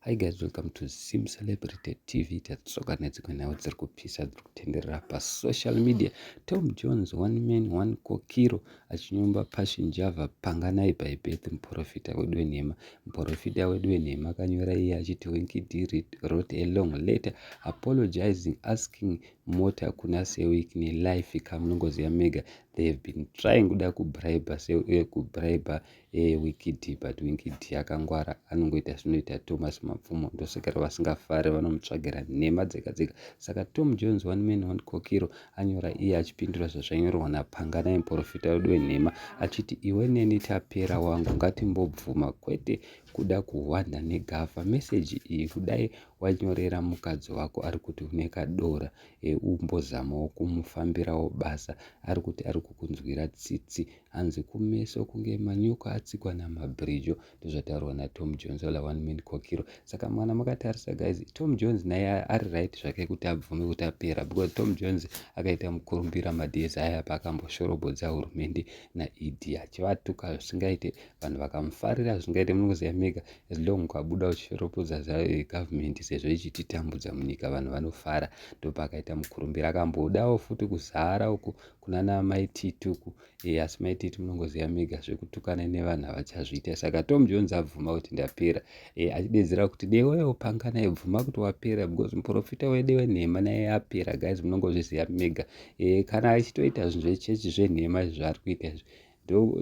Hi guys, welcome to Zim Celebrity TV. Tatsoka nedzimwe nhau dziri kupisa dziri kutenderera pasocial media. Tom Jones, one man, one kokiro achinyomba Passion Java panganai by birth muporofita wedu wenhema. Muporofita wedu wenhema akanyora iye achiti Winky D wrote a long letter apologizing asking mota kuna Sewik nelife kamunongoziva mega they have been trying kuda kubriber Sewik eh, kubriber Hey, wikidi but wikidi akangwara anongoita zvinoita thomas mapfumo ndosvikira vasingafare vanomutsvagira nhema dzega dzega saka tom jones one man one kokiro anyora iye achipindura zvazvanyorwa napangana muporofita wedu wenhema achiti iwe neni tapera wangu ngatimbobvuma kwete kuda kuhwanda negava meseji iyi kudai wanyorera mukadzi wako ari kuti une kadora eumbozamawo kumufambirawo basa ari kuti ari kukunzwira tsitsi hanzi kumeso kunge manyoka atsikwa namabhirijo ndozvataurwa natom jones ola one man kokiro saka mwana makatarisa guys tom jones naye ari right zvake kuti abvume kuti apera because tom jones akaita mukurumbira mades aya paakamboshorobodza hurumende naed achivatuka zvisingaite vanhu vakamufarira zvisingaite munoziva mega as long ukabuda uchishoropodza zvagovernment eh, sezvo ichititambudza munyika vanhu vanofara ndopaakaita mukurumbira akambodawo futi kuzara uku kunana mai tituku e, eh, asi mai titi munongoziva mega zvekutukana nevanhu havachazviita saka tom jones abvuma kuti ndapera e, eh, achidedzera kuti dewewo panga naye bvuma kuti wapera because muprofita wede wenhema naye apera guys munongozviziva mega e, kana achitoita zvinhu zvechechi zvenhema izvi zvaari kuita izvi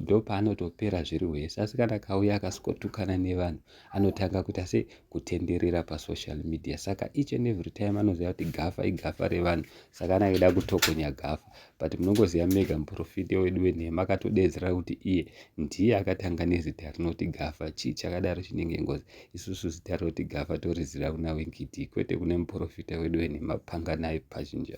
ndopaanotopera ndo zviri wese asi kana kauya akasikotukana nevanhu anotanga kuita se kutenderera pasocial media saka each and every time anoziva kuti gafa igafa revanhu saka anakida kutokonya gafa but munongoziva mega muprofiti wedu wenhema akatodedzera kuti iye ndiye akatanga nezita rinoti gafa chii chakadaro chinenge ngozi isusu zita rinoti gafa toriziva kuna wenkiti kwete kune muprofita wedu wenhema panganai pachinja